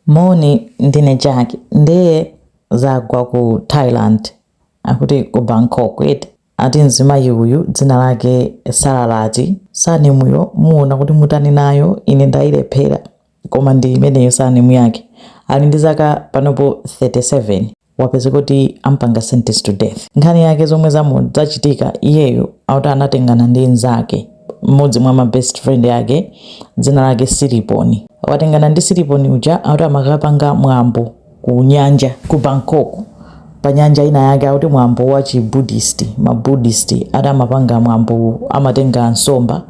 Moni, ndine Jack ndiye zagwa ku Thailand akuti ku Bangkok eti ati mzimayi uyu dzina lake Sararati surname-yo muona kuti mutani nayo ine ndayilephera koma ndi imeneyo surname yake ali ndi zaka panopo 37 wapeza kuti ampanga sentence to death nkhani yake zomwe zamuchitikira iyeyo akuti anatengana ndi nzake mmodzi mwa ma best friend yake dzina lake siliponi watengana ndi siliponi uja akuti amakapanga mwambo ku nyanja ku bangkok pa nyanja inayake akuti mwambo wa chibuddhist mabuddhist ati amapanga mwambo amatenga nsomba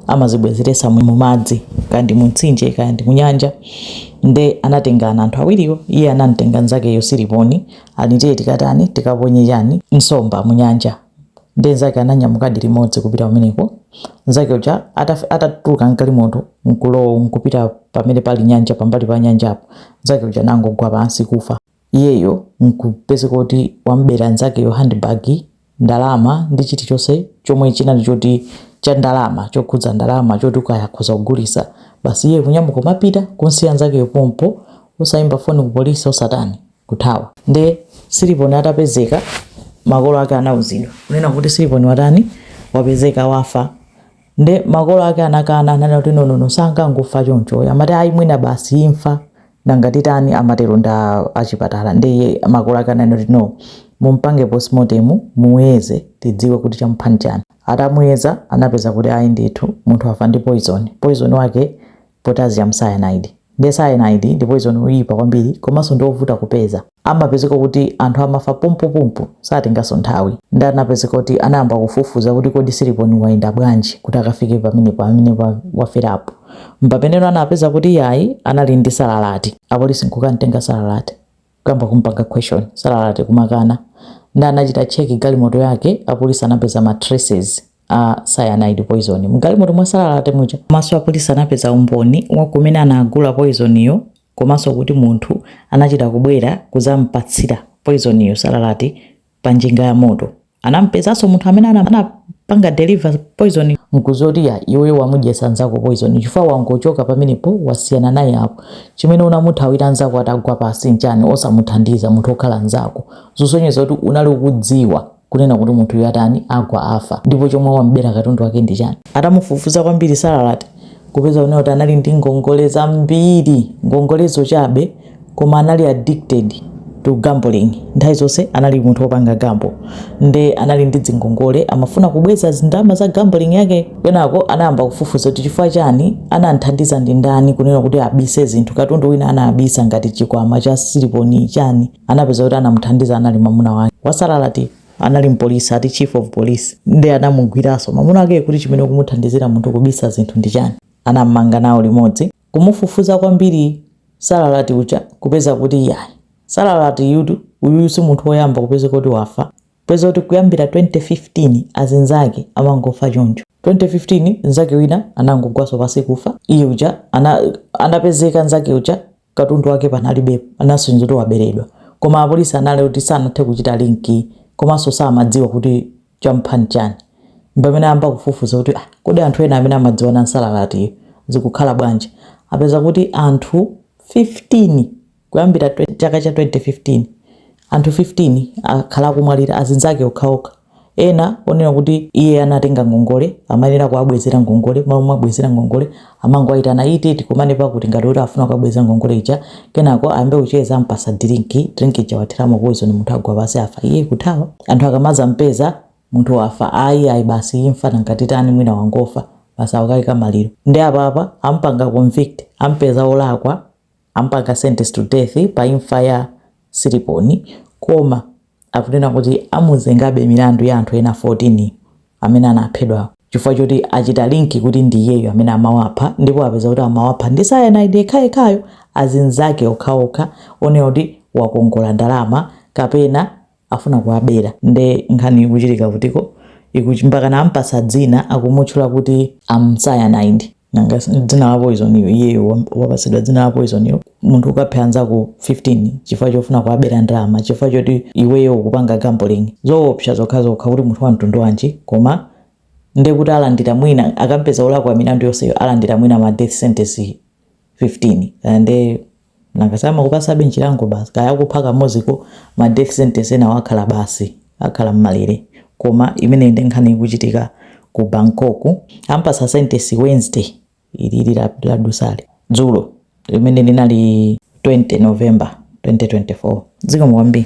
amazibwezeretsa mu madzi kaya ndi mu mtsinje kaya ndi mu nyanja nde anatengana anthu awiriwo iye anamtenga nzakeyo siliponi ati tiye tikatani tikaponye chani nsomba munyanja nde nzake ananyamukadi limodzi kupita kumeneko nzake uja ataf- atatuluka mgalimoto nkulowa nkupita pamene pali nyanja pambali pa nyanjapo nzake uja nangogwa pansi kufa iyeyo nkupezeka kuti wamubera nzakeyo handbag, ndalama ndi chilichonse chomwe chinali choti cha ndalama chokhudza ndalama choti kaya akhoza kugulisa basi iyeyo kunyamuka kumapita kumsiya nzakeyo pompo osayimba foni ku police osatani kuthawa nde Siliponi atapezeka makolo ake anauzidwa kunena kuti Siliponi watani wapezeka wafa. Nde makolo ake anakana ananena kuti nonono sangangofa chonchoyo amati ayi mwina basi imfa nanga titani amatero ndi achipatala nde iye makolo ake ananena kuti no mumpange postmortem muyeze tidziwe kuti chamupha nchani atamuyeza anapeza kuti ayi ndithu munthu wafa ndi poison poison wake Potassium cyanide nde cyanide ndi poyizoni woyipa kwambiri komanso ndi wovuta kupeza. Amapezeka kuti anthu amafa pompopompo, satenganso nthawi. Nde anapezeka kuti anayamba kufufuza kuti kodi Siliponi wayenda bwanji kuti akafike pamenepo pamene waferapo. M'pamene no anapeza kuti yayi anali ndi salalati. Apolisi nkukamtenga salalati. kuyamba kumpanga question Salalati kumakana nde anachita check galimoto yake apolisi anapeza ma traces a cyanide poison mgalimoto mwa Salalati muja komanso apolisi anapeza umboni wa kumene anagula poison yo komanso kuti munthu anachita kubwera kuzampatsira poison yo Salalati pa njinga ya moto. Anamupezanso munthu amene anapanga deliver poison nkuzoti ya iweyo wamudyesa nzako poison chifukwa wangochoka pamenepo wasiyana naye apo chimene unamuthawira nzako atagwa pansi nchani osamuthandiza munthu wokhala nzako zosonyeza kuti unali ukudziwa kunena kuti munthuyu atani agwa afa ndipo chomwe wambera katundu wake ndi chani atamufufuza kwambiri salalati kupeza kunena kuti anali ndi ngongole zambiri ngongolezo chabe koma anali addicted to gambling nthawi zonse anali munthu wopanga gambo nde anali ndi dzingongole amafuna kubweza zindalama za gambling yake kenako anayamba kufufuza kuti chifukwa chani anamthandiza ndi ndani kunena kuti abise zinthu katundu wina anabisa ngati chikwama cha siliponi chani anapeza kuti anamuthandiza anali mamuna wake wa Salalati anali mpolisi ati chief of police nde anamugwiraso mamuna wake kuti chimene kumuthandizira munthu kubisa zinthu ndi chani anammanga nawo limodzi Kumufufuza kwambiri Salalati uja kupeza kuti iyayi, Salalatiyutu, uyuyu si munthu woyamba kupezeka kuti wafa. Kupeza kuti kuyambira 2015 azinzake amangofa choncho. 2015 nzake wina anangogwaso pasi kufa, iye uja ana anapezeka nzake uja katundu wake panalibepo, anasonyeza kuti waberedwa. Koma apolisi anali oti sanathe kuchita linki komanso samadziwa kuti Chamupha n'chani? Mpamene ayamba kufufuza kuti, ah, kodi anthu ena amene amadziwana n'Salalatiyu zikukhala bwanji? Apeza kuti anthu 15, kuyambira chaka cha 2015, anthu 15 akhala akumwalira, azinzake okhaokha. Ena onena kuti iye anatenga ngongole, amayenera kuwabwezera ngongole, mmalo mowabwezera ngongole, amangowaitana ati tikumane pakuti ngati kuti afuna kukabweza ngongole ija kenako ayambe kucheza ampasa dirinki drink ija wathiramo poison munthu agwa pasi afa iye kuthawa anthu akamaza mpeza munthu wafa ayi ayi basi imfa nanga titani mwina wangofa basi awakayika maliro nde apapa ampanga convict ampeza olakwa ampanga sentence to death pa imfa ya Siliponi koma akunena kuti amuzengabe milandu ya anthu ena 14 amene anaphedwa chifukwa choti achita linki kuti ndi iyeyo amene amawapha ndipo apeza kuti amawapha ndi cyanide yekhayekhayo azinzake okhaokha onena kuti wakongola ndalama kapena afuna kuwabera nde nkhani ikuchitika kutiko ikuchi- mpakana ampasa dzina akumutchula kuti Am Cyanide nanga s- dzina la poison iyo iyeyo wa- wapatsidwa dzina la poison iyo munthu ukapha anzako 15 chifukwa chofuna kuwabera ndalama chifukwa choti iweyo ukupanga gambling zoopsa zokhazokha kuti munthu wa mtundu wanji koma nde kuti alandira mwina akampeza olakwa milandu yonseyo alandira mwina ma death sentence 15 and eh, Nanga samakupasabe nchilango basi kaya akupha kamozi koma ma death sentence enawo akhala basi akhala mmalere koma imeneyi nde nkhani ikuchitika ku Bangkok ampasa sentence Wednesday ilili ladutsali dzulo limene linali 20 November 2024. Zikomo kwambiri.